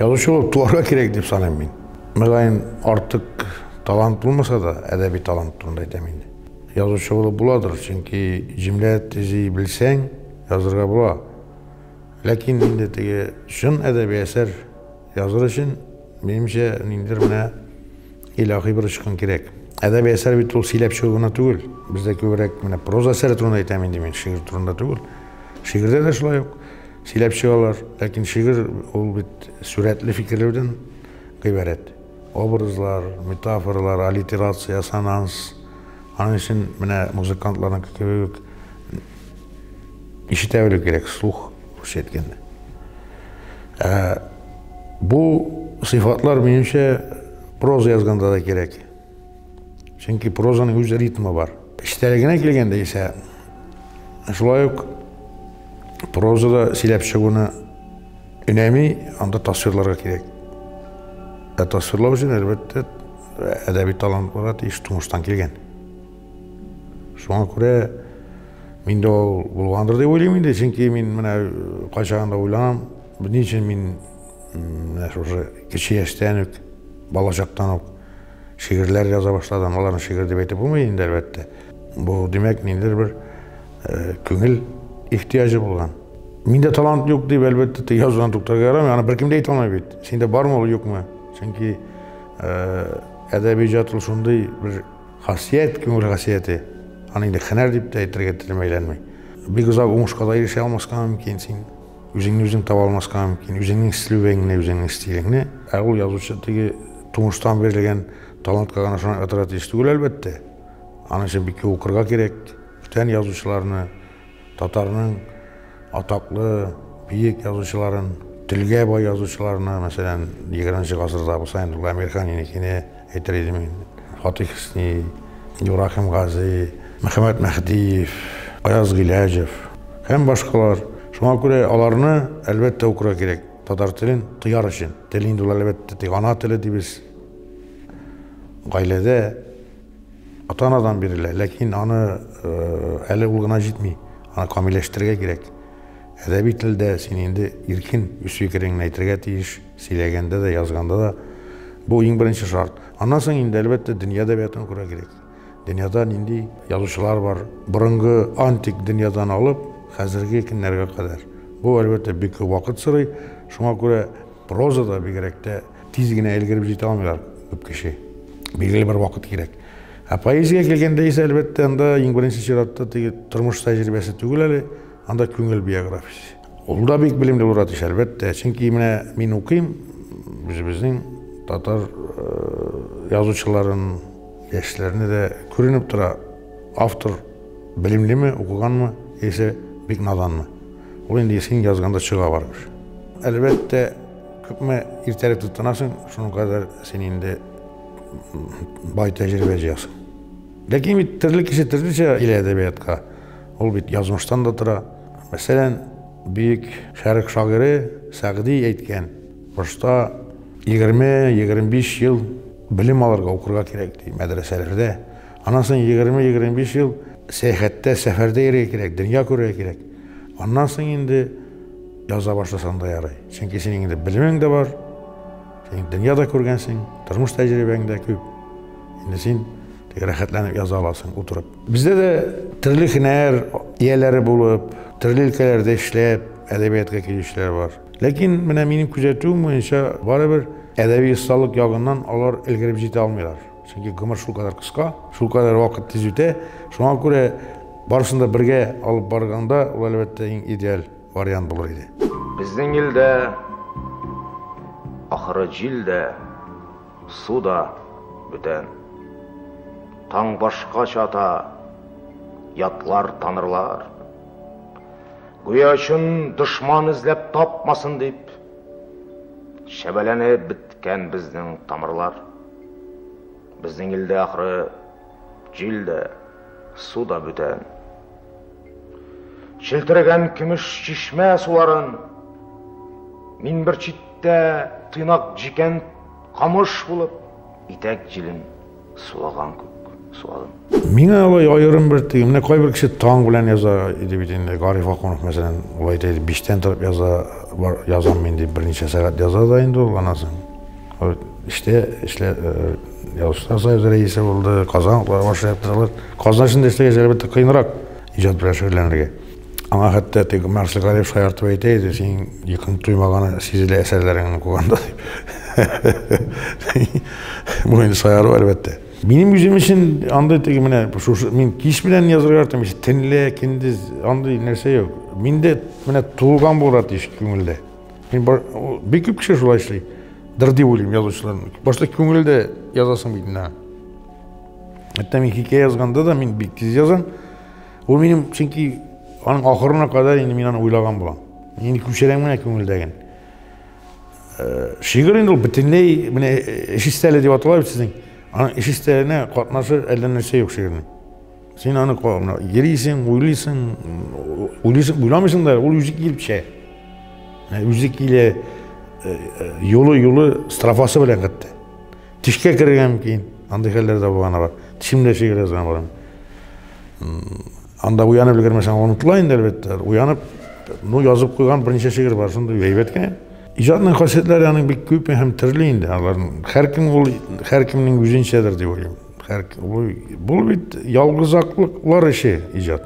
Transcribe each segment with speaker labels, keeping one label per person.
Speaker 1: Язучы булып туарга кирәк дип саныйм мин. Мөгаен, артык талант булмаса да, әдәби талант турында әйтәм инде. Язучы булып буладыр, чөнки җөмлә төзи белсәң, язырга була. Ләкин инде теге чын әдәби әсәр языр өчен, минемчә, ниндидер менә илаһи бер очкын кирәк. Әдәби әсәр бит ул сөйләп чыгу гына түгел. Бездә күбрәк менә проза әсәре турында әйтәм инде мин, шигырь турында түгел. Шигырьдә дә шулай ук сөйләп чыгалар, ләкин шигырь ул бит сурәтле фикерләүдән гыйбарәт. Образлар, метафоралар, аллитерация, ассонанс. Аның өчен менә музыкантларның кебек үк ишетә белү кирәк, слух, русча әйткәндә. Ә бу сыйфатлар, минемчә, проза язганда да кирәк. Чөнки прозаның үз ритмы бар. Эчтәлегенә килгәндә исә шулай ук прозада сөйләп чыгуны өнәми, анда тасвирларга кирәк. Ә тасвирлау өчен, әлбәттә, әдәби талантларга тиеш тумыштан килгән. Шуңа күрә мин дә ул булгандыр дип уйлыйм инде, чөнки мин менә кайчагында уйланам, Ни өчен мин менә шушы кече яшьтән үк, балачактан ук шигырьләр яза башладым. Аларны шигырь дип әйтеп булмый инде, әлбәттә. Бу, димәк, ниндидер бер э, күңел ихтыяҗы булган. Миндә талант юк дип, әлбәттә, теге язудан туктарга ярамый. Аны беркем дә әйтә алмый бит. Синдә бармы ул, юкмы? Чөнки э, әдәби иҗат ул шундый бер хасият, күңел хасияте. Аны инде һөнәр дип тә әйтергә телем әйләнми. Бик озак уңышка да ирешә алмаска мөмкин син. Үзеңне үзең таба алмаска мөмкин, үзеңнең стилеңне, үзеңнең стилеңне. Ә ул язучы теге тумыштан бирелгән талантка гына шуны ытыра тиеш түгел, әлбәттә. Аның өчен бик укырга кирәк. Бүтән язучыларны, татарның атаклы, биек язучыларын, телгә бай язучыларны, мәсәлән, 20 гасырда Госман Әмирханиныкыны, Әйтер идем мин, Фатих Хөсни, Ибраһим Гази, Мөхәммәт Мәһдиев, Аяз Гыйләҗев һәм башкалар. Шуңа күрә аларны, әлбәттә, укырга кирәк. Татар телен тояр өчен. Тел инде ул, әлбәттә, тик ана теле дибез. Гаиләдә ата-анадан бирелә, ләкин аны әле ул гына җитми. Аны камилләштерергә кирәк. Әдәби телдә син инде иркен үз фикереңне әйтергә тиеш. Сөйләгәндә дә, язганда да бу иң беренче шарт. Аннан соң инде, әлбәттә, дөнья әдәбиятын күрә кирәк. Дөньяда нинди язучылар бар, борынгы антик дөньядан алып, хәзерге көннәргә кадәр. Бу, әлбәттә, бик күп вакыт сорый. Шуңа күрә прозада бигрәк тә тиз генә өлгереп җитә алмыйлар күп кеше. Билгеле бер вакыт кирәк. Ә поэзиягә килгәндә исә, әлбәттә, анда иң беренче чиратта теге тормыш тәҗрибәсе түгел әле, анда күңел биографиясе. Ул да бик белемле булыр атыш, әлбәттә. Чөнки менә мин укыйм, үзебезнең татар э, язучыларын, яшьләрне дә күренеп тора. Автор белемлеме, укыганмы, яисә бик наданмы. Ул инде син язганда чыга бармыш. Әлбәттә, күпме иртәрәк тотынасың, шуның кадәр син инде бай тәҗрибә җыясың. Ләкин бит төрле кеше төрлечә килә әдәбиятка. Ул бит язмыштан да тора. Мәсәлән, Бөек Шәрык шагыйре Сәгъди әйткән, башта егерме-егерме биш ел белем алырга, укырга кирәк, ди, мәдрәсәләрдә. Аннан соң егерме-егерме биш ел сәяхәттә, сәфәрдә йөрергә кирәк, дөнья күрергә кирәк. Аннан соң инде яза башласаң да ярый. Чөнки синең инде белемең дә бар, син дөнья да күргәнсең, тормыш тәҗрибәң дә күп. Инде син рәхәтләнеп яза аласың утырып. Бездә дә төрле һөнәр ияләре булып, төрле өлкәләрдә эшләп, әдәбиятка килүчеләр бар. Ләкин менә минем күзәтүем буенча, барыбер әдәби осталык ягыннан алар өлгереп җитә алмыйлар. Чөнки гомер шул кадәр кыска, шул кадәр вакыт тиз үтә. Шуңа күрә барысын да бергә алып барганда, ул әлбәттә иң идеаль вариант булыр иде. Безнең илдә,
Speaker 2: ахры, җил дә. Су да бүтән. Таң башкача ата, ятлар, танырлар. Гүя чын дошман эзләп тапмасын дип, шәбәләнеп беткән безнең тамырлар. Безнең илдә ахры җил дә, су да бүтән. Челтергән көмеш чишмә суларын мин бер читтә тыйнак җикән Камыш булып, итәк җилен сулаган күк суалым. Миңа алай
Speaker 1: аерым бер теге, менә кайбер кеше таң белән яза иде бит инде, Гариф Акунов мәсәлән, ул әйтә иде, биштән торып яза, бар, язам мин дип, берничә сәгать яза да инде ул, аннан соң эштә, эшлә, язучылар союзы рәисе булды, Казан утлары башлыгы яктыралар. Казан эшендә эшләгәч, әлбәттә, кыенрак иҗат белән шөгыльләнергә. Аңа хәтта тег Марсель Галиев шаяртып әйтә иде, син якын туймаганы сизелә әсәрләреңне укыганда. Бу инде шаяру әлбәттә. Минем үзем өчен андый теге менә шушы мин кич белән язырга яратам, ич төнлә, көндез андый нәрсә юк. Миндә менә тулган булырга тиеш күңелдә. Мин бик күп кеше шулай эшли. Дыр дип уйлыйм язучыларның. Башта күңелдә язасың бит инде. Хәтта мин хикәя язганда да мин бик тиз язам. Ул минем, чөнки аның ахырына кадәр инде мин аны уйлаган булам. Инде күчерәм генә күңелдәген. Э, шигырь инде ул бөтенләй менә э, эш истәле дип атала бит сезнең. Аның эш истәленә катнашы әллә нәрсә юк шигырьнең. Син аны калына йөрисең, уйлыйсың, уйлыйсың, уйламыйсың да, ул үзе килеп төшә. Үзе килә, юлы-юлы строфасы белән китте. Тишкә керергә мөмкин, андый хәлләр дә булганы бар. Тешем дә шигерә заман. Анда уянып өлгермәсәң, онытыла инде, әлбәттә. Уянып, ну, язып куйган берничә шигырь бар, шундый әйбәт кенә. Иҗатның хасиятләре аның бик күп һәм төрле инде. Аларның һәркем ул һәркемнең үзенчәдер дип уйлыйм. Һәр бу бит ялгызаклыклар эше иҗат.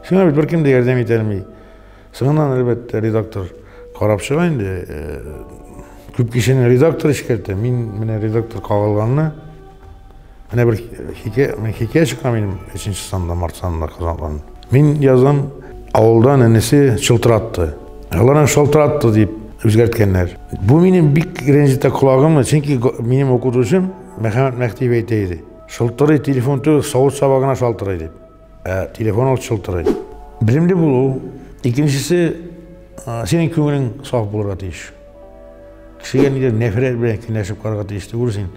Speaker 1: Сиңа бит беркем дә ярдәм итә алмый. Соңыннан, әлбәттә, редактор карап чыга инде. Э, күп кешене редактор эшкәртә. Мин менә редактор кагылганны менә бер хикәя, мен хикәя чыга минем 3 санда, март санында казаныган. Мин язам, авылдан энесе шылтыратты. Аларны шылтыратты дип үзгәрткәннәр. Бу минем бик рәнҗетә колагымны, чөнки минем укытучым Мәхәммәт Мәхтиев әйтә иде. Шылтырый телефон түгел, савыт сабагына шалтырый дип. Ә телефон алт шылтырый. Белемле булу, икенчесе синең күңелең саф булырга тиеш. Кешегә нидер нәфрәт белән кенәшеп карарга тиеш түгел син.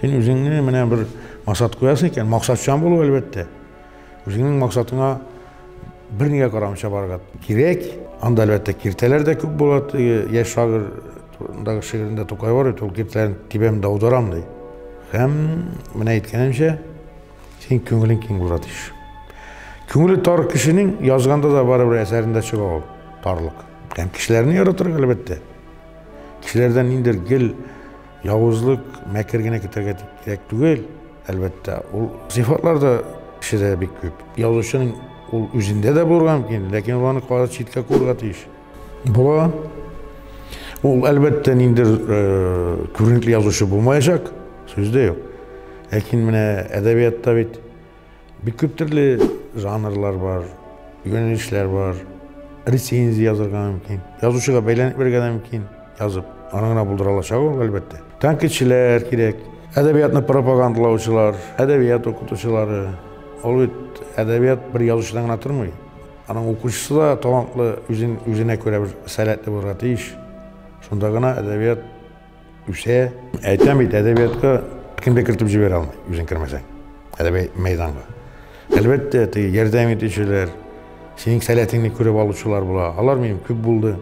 Speaker 1: Син үзеңне менә бер максат куясың икән, максатчан булу әлбәттә. Үзеңнең максатыңа бер нигә карамыйча барырга кирәк. Анда әлбәттә киртәләр дә күп була. Яшь шагыйрь турындагы шигырендә Тукай бар бит, ул киртәләрен тибәм дә аударам ди. Һәм менә әйткәнемчә, Син күңелең киң булырга тиеш. Күңеле тар кешенең язганда да барыбер әсәрендә чыга ул тарлык. Һәм кешеләрне яратырга әлбәттә. Кешеләрдән ниндер гел явызлык, мәкер генә көтәргә кирәк түгел, әлбәттә. Ул сыйфатлар да кешедә бик күп. Язучының ул үзендә дә булырга мөмкин, ләкин ул аны кадәр читкә күрергә тиеш. Була. Ул әлбәттә ниндер э, күренекле язучы булмаячак, сүз дә юк. Ләкин менә әдәбиятта бит бик күп төрле жанрлар бар, юнәлешләр бар. Рецензия язырга мөмкин. Язучыга бәйләнеп бирергә дә мөмкин. Язып, аны гына булдыра алачак ул, әлбәттә. Тәнкыйтьчеләр кирәк. Әдәбиятны пропагандалаучылар, әдәбият укытучылары. Ул бит әдәбият бер язучыдан гына тормый. Аның укучысы да талантлы, үзен, үзенә күрә бер сәләтле булырга тиеш. Шунда гына әдәбият Үсә. Әйтәм бит, әдәбиятка кем дә кертеп җибәрә алмый, үзең кермәсәң. Әдәби мәйданга. Әлбәттә, теге ярдәм итүчеләр, синең сәләтеңне күреп алучылар була. Алар минем күп булды.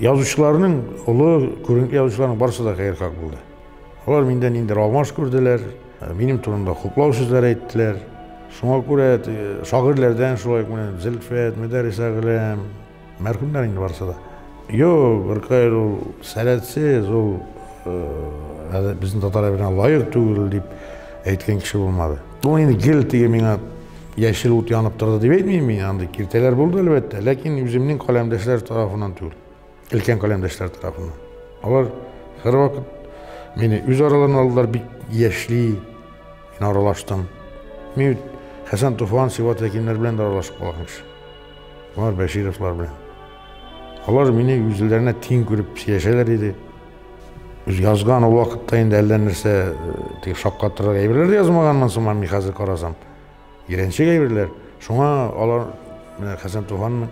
Speaker 1: Язучыларның, олы күренекле язучыларның барысы да хәерхак булды. Алар миндә нинди алмаш күрделәр, минем турында хуплау сүзләр әйттеләр. Шуңа күрә шагыйрьләрдән шулай ук менә Зөлфәт, Мөдәррис Әгъләм, Мәрхүмнәр инде барысы да. Юк, Гөркәй ул сәләтсез, ул э, безнең татар әбенә лаек түгел дип әйткән кеше булмады. Ул инде гел теге миңа яшел ут янып торды дип әйтмим мин, андый киртәләр булды әлбәттә, ләкин үземнең каләмдәшләр тарафыннан түгел, өлкән каләмдәшләр тарафыннан. Алар һәрвакыт мине үз араларына алдылар, бик яшьли, мин аралаштым. Мин Хәсән Туфан, Сиват Якимнәр белән дә аралашып калган кеше. Алар Бәшировлар белән. Алар мине үзләренә тиң күреп сөйләшәләр иде. Үз язган ул вакытта инде әллә нәрсә э, тик шаккатырыр әйберләр дә язмаганмын сыман мин хәзер карасам. Еренчек әйберләр. Шуңа алар менә Хәсән Туфанның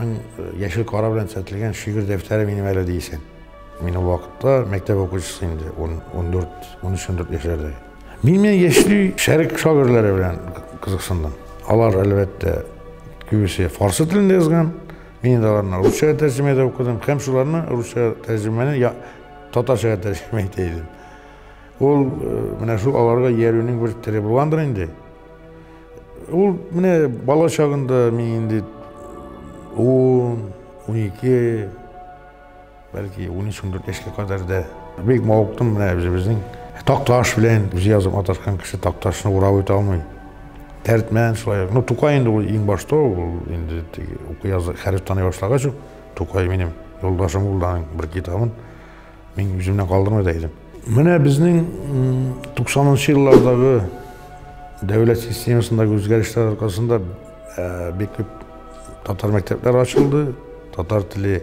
Speaker 1: э, яшел кара белән төзәтелгән шигырь дәфтәре минем әле дисен. Мин ул вакытта мәктәп укучысы инде, 14-13 яшьләрдә. Мин мен яшьли шәрик шагыйрьләре белән кызыксындым. Алар, әлбәттә, күбесе фарсы телендә язган. Мин инде аларны русчага тәрҗемә итеп укыдым һәм шуларны русча тәрҗемәне я, татарчага тәрҗемә итә идем. Ул э, менә шул аларга иярүнең бер теле булгандыр инде. Ул менә бала чагында мин инде 10, 12 Бәлки 13-14 яшькә кадәр дә бик мавыктым менә үзебезнең Такташ белән үзе язып маташкан кеше Такташны урап үтә алмый. Дәртмән шулай. Ну, Тукай инде ул иң башта ул инде теге уку язы хәреф таный башлагач ук Тукай минем юлдашым булды аның бер китабын мин үземнән калдырмый да идем. Менә безнең 90-нчы еллардагы дәүләт системасындагы үзгәрешләр аркасында бик күп татар мәктәпләре ачылды, татар теле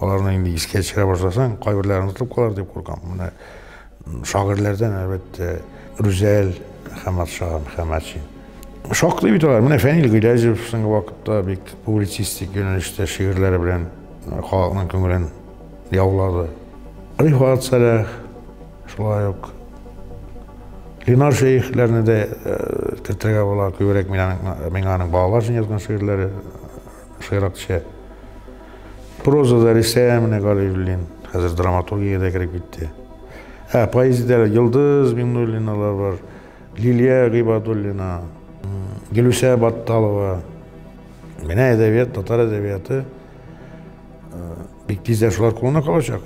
Speaker 1: Аларны инде искә төшерә башласаң, кайберләре онытылып калар дип куркам. Менә шагыйрьләрдән, әлбәттә, Рүзәл Хәматшаган, Хәматшин. Шактый бит алар. Менә Фәнил Гыйләҗев соңгы вакытта бик публицистик юнәлештә шигырьләре белән э, халыкның күңелен яулады. Рифат Сәләх, шулай ук Ленар шәехләрне дә э, кертергә була, күбрәк мин аның, миңа аның балалар өчен язган шигырьләре Шыйракча прозада Рисә Минегалиуллин, хәзер драматургиядә кереп китте. Ә поэзиядә Йолдыз Миңнуллиналар бар, Лилия Гыйбадуллина, Гөлүсә Батталова. Менә әдәбият, татар әдәбияты бик тиздән шулар кулына калачак.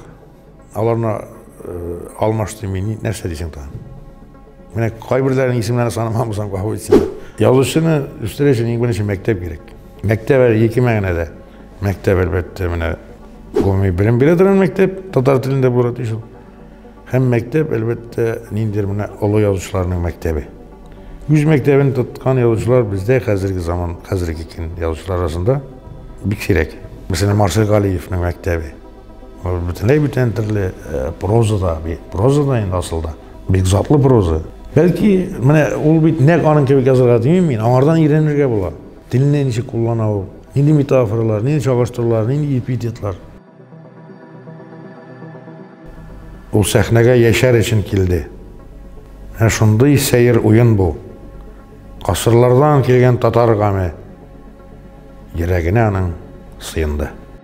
Speaker 1: Аларны алмаш дими, нәрсә дисең тагын? Менә кайберләренең исемнәрен санамам булсам, гафу итсеннәр. Язучыны үстерү өчен иң беренче мәктәп кирәк. Мәктәп әле ике мәгънәдә. Мәктәп әлбәттә менә гомуми белем бирә торган мәктәп, татар телендә булырга тиеш ул. Һәм мәктәп әлбәттә ниндидер менә олы язучыларның мәктәбе. Үз мәктәбен тоткан язучылар бездә хәзерге заман, хәзерге көн язучылар арасында бик сирәк. Мәсәлән, Марсель Галиевның мәктәбе. Ул бөтенләй бүтән төрле э, прозада, прозада инде асылда, бик затлы проза. Бәлки, менә ул бит нәк аның кебек язырга димим мин, аңардан өйрәнергә була. Телне ничек куллана ул, нинди метафоралар, нинди чагыштырулар, нинди эпитетлар. Ул сәхнәгә яшәр өчен килде. Ә шундый сәер уен бу. Касырлардан килгән татар гаме йөрәгенә аның сыенды.